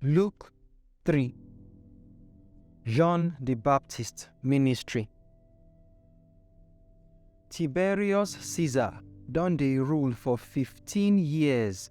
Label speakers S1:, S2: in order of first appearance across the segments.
S1: Luke 3 John the Baptist ministry. Tiberius Caesar don dey rule for 15 years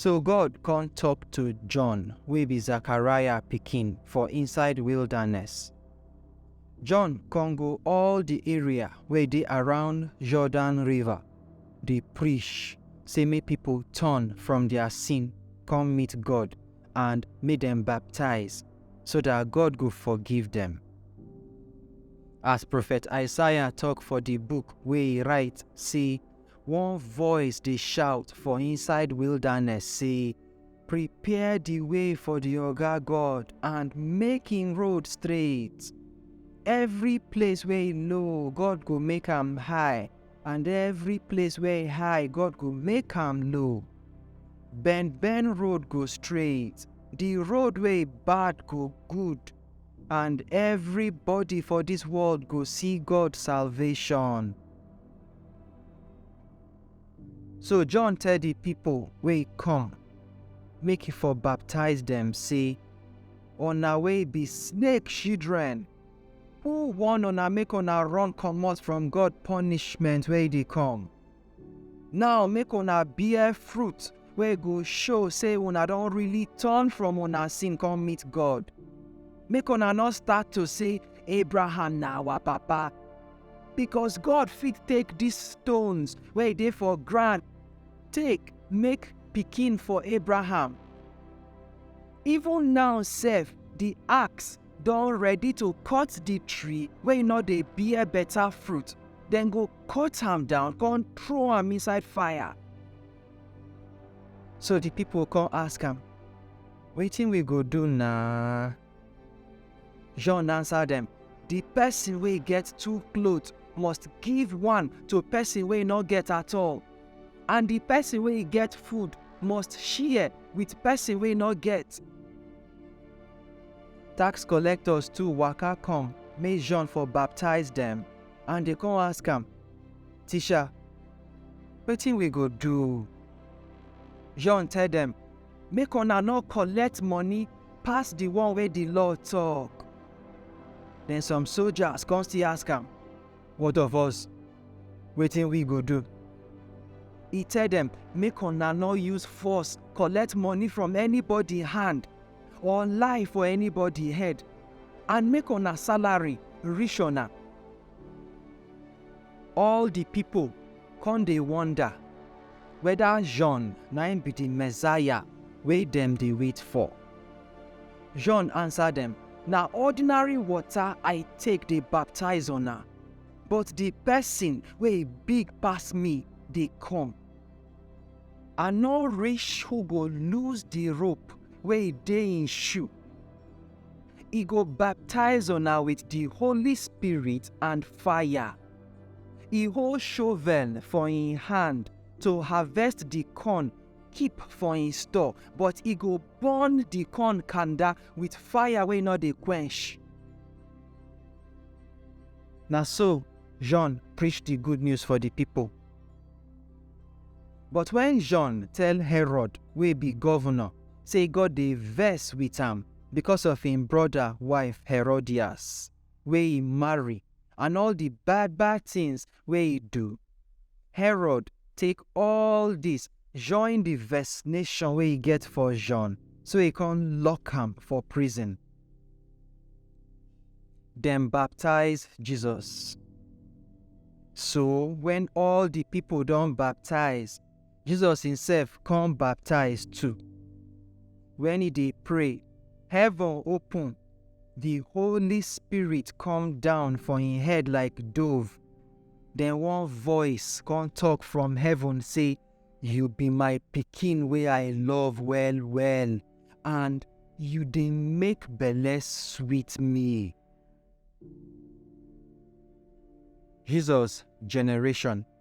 S1: So God come talk to John, wey be Zechariah pikin, for inside wilderness. John come go all the area wey dey around Jordan River, dey preach say make people turn from their sin, come meet God, and make dem baptize, so that God go forgive them. As prophet Isaiah talk for the book wey he write say One voice dey shout for inside wilderness say, Prepare the way for the Oga God and make him road straight. Every place where he low, God go make am high, and every place where he high, God go make am low. Bend bend road go straight, the road wey bad go good, and everybody for this world go see God salvation. So John tell di pipo wey come make e for baptize dem sey, Una wey be snake shidren! Who warn una make una run komot from God ponishment wey dey come? Naw, make una bear fruit wey go show sey una don really turn from una sin kon meet God. Make una nor start to sey, Abraham na awa papa. because god fit take dis stones wey dey for ground take make pikin for abraham even now sef di axe don ready to cut di tree wey no dey bear better fruit dem go cut am down come throw am inside fire so di pipo come ask am wetin we go do na John answer dem, The person wey get two cloth must give one to person wey no get at all, and the person wey get food must share with person wey no get. Tax collectors too waka come make John for baptize dem, and they come ask am, Teacher, wetin we go do? John tell dem, Make una no collect money pass the one wey the law talk. Then some soldiers come still ask am, What of us? Wetin we go do? He tell them, Make una no use force collect money from anybody hand or lie for anybody head, and make una salary reach una. All di pipo kon dey wonda weda Jon na im bi di Messiah wey dem dey wait for. Jon ansa dem, Na ordinary wota I take dey baptize una, but di pesin wey big pass mi dey kom. I nor rish who go loose di rope wey dey im shoe. He go baptize una with the Holy Spirit and fire. He hold shovel for him hand to harvest the corn keep for him store, but he go burn the corn kanda with fire wey no dey quench. Na so John preach the good news for the people. But when John tell Herod wey be governor say God dey vex with am because of im brother wife Herodias wey he marry and all the bad bad things wey he do. Herod take all this join the vexation wey he get for John so he come lock am for prison. Dem baptize Jesus. So when all the people don baptize, Jesus himself come baptize too. When he dey pray, heaven open, the Holy Spirit come down for him head like dove. Then one voice come talk from heaven say, You be my pikin wey I love well well, and you dey make belle sweet me. Jesus generation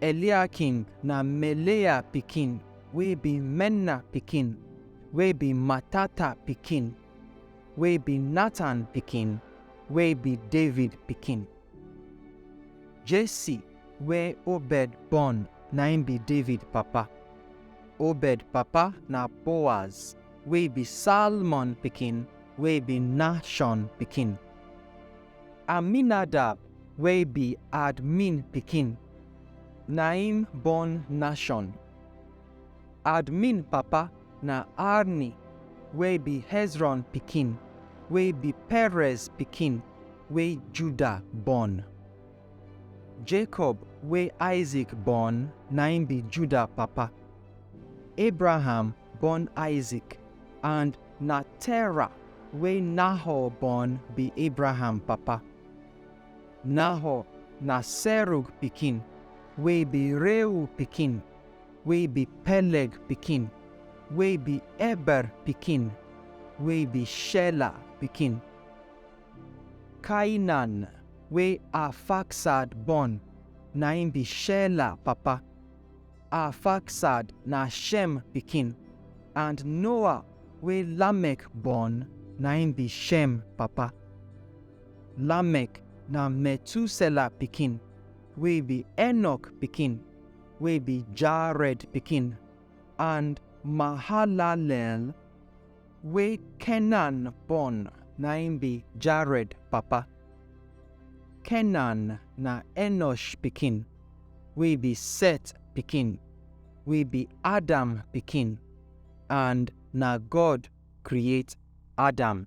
S1: Eliakim na Melea pikin, wey be Menna pikin, wey be Matata pikin, wey be Natan pikin, wey be David pikin. Jesse wey Obed born na im be David papa. Obed papa na Boaz, wey be Salmon pikin, wey be Nahshon pikin. Aminadab wey be Admin pikin na im born Nashon. Admin papa na Arni wey be Hezron pikin wey be Perez pikin wey Judah born. Jacob wey Isaac born na im be Judah papa. Abraham born Isaac, and na Terah wey Nahor born be Abraham papa. Nahor na Serug pikin, wey be Reu pikin, wey be Peleg pikin, wey be Eber pikin, wey be Shelah pikin. Cainan wey Arphaxad born na im be Shelah papa. Arfaxad na Shem pikin, and Noah wey Lamek born na im be Shem papa. Lamek na Methuselah pikin, wey be Enoch pikin, wey be Jared pikin, and Mahalalel wey Kenan born na im be Jared papa. Kenan na Enosh pikin, wey be Set pikin, wey be Adam pikin, and na God create Adam.